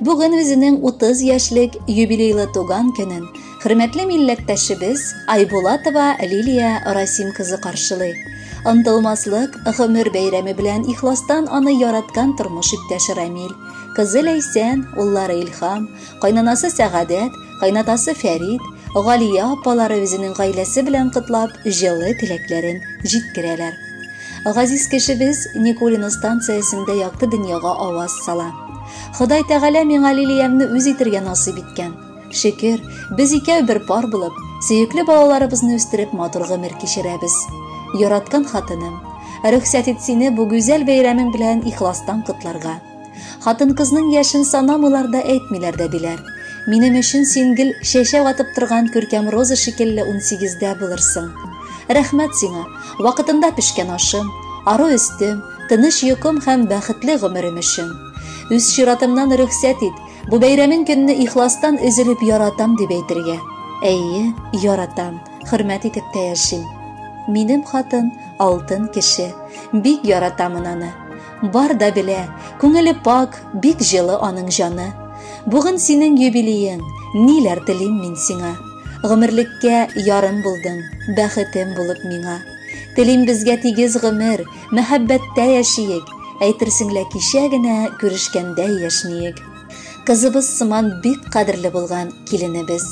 Бүген үзенең 30 яшьлек юбилейлы туган көнен хөрмәтле милләттәшебез Айбулатова Лилия Расим кызы каршылый. Онтылмаслык гомер бәйрәме белән ихластан аны яраткан тормыш иптәше Рамил, кызы Ләйсән, уллары Илхам, кайнанасы Сәгадәт Кайнатасы Фәрид, Галия апалары үзенең гаиләсе белән котлап, җылы теләкләрен җиткерәләр. Газиз кешебез Никулино станциясендә якты дөньяга аваз сала. Ходай Тәгалә миңа Лилиямне үз итергә насыйп иткән. Шөкер, без икәү бер пар булып, сөекле балаларыбызны үстереп матур гомер кичерәбез. Яраткан хатыным, рөхсәт ит сине бу гүзәл бәйрәмең белән ихластан котларга. Хатын-кызның яшен санамыйлар да әйтмиләр дә диләр. Минем өчен син гел чәчәк атып торган күркәм роза шикелле унсигездә булырсың. Рәхмәт сиңа, вакытында пешкән ашым, ару өстем, тыныч йокым һәм бәхетле гомерем өчен. Үз чиратымнан рөхсәт ит, бу бәйрәмен көнне ихластан өзелеп яратам дип әйтергә. Әйе, яратам, хөрмәт итеп тә яшим. Минем хатын, алтын кеше. Бик яратамын аны. Бар да белә, күңеле пак, бик җылы аның җаны. Бүген синең юбилеең, ниләр телим мин сиңа. Гомерлеккә ярым булдың, бәхетем булып миңа. Телим безгә тигез гомер, мәхәббәттә яшиек, әйтерсең лә кичә генә күрешкәндәй яшниек. Кызыбыз сыман бик кадерле булган киленебез.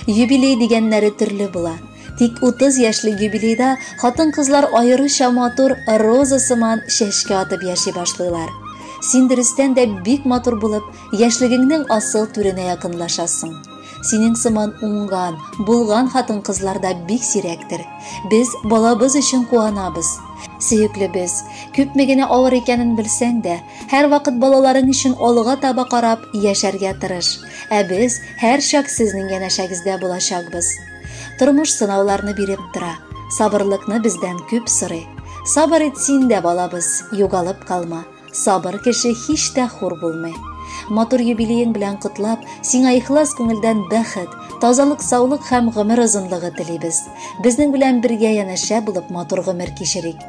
Юбилей дигәннәре төрле була. Тик 30 яшьлек юбилейда хатын-кызлар аеруча матур роза сыман чәчкә атып яши башлыйлар. Син дөрестән дә бик матур булып, яшьлегеңнең асыл түренә якынлашасың. Синең сыман уңган, булган хатын-кызлар да бик сирәктер. Без балабыз өчен куанабыз. Сөеклебез, күпме генә авыр икәнен белсәң дә, һәрвакыт балаларың өчен алга таба карап яшәргә тырыш. Ә без һәрчак сезнең янәшәгездә булачакбыз. Тормыш сынауларны биреп тора, сабырлыкны бездән күп сорый. Сабыр ит син дә, балабыз, югалып калма. Сабыр кеше һич тә хур булмый. Матур юбилеең белән котлап, сиңа ихлас күңелдән бәхет, тазалык, саулык һәм гомер озынлыгы телибез. Безнең белән бергә янәшә булып матур гомер кичерик.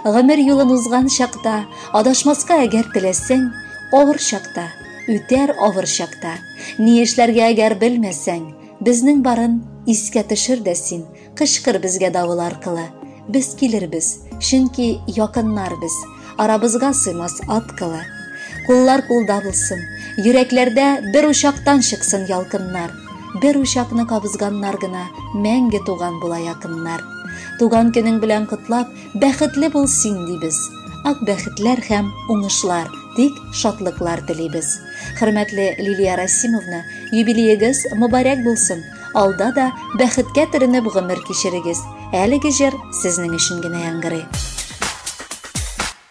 Гомер юлын узган чакта, адашмаска әгәр теләсәң, авыр чакта, үтәр авыр чакта. Ни эшләргә әгәр белмәсәң, Безнең барын искә төшер дә син, Кычкыр безгә давыл аркылы. Без килербез, чөнки якыннар без, Арабызга сыймас ат кылы. Куллар кулда булсын, йөрәкләрдә Бер учактан чыксын ялкыннар. Бер учакны кабызганнар гына Мәңге туган була якыннар. Туган көнең белән котлап, Бәхетле бул син дибез. Ак бәхетләр һәм уңышлар, тик шатлыклар телибез. Хөрмәтле Лилия Расимовна, юбилеегыз мөбарәк булсын. Алда да бәхеткә төренеп гомер кичерегез. Әлеге җыр сезнең өчен генә яңгырый.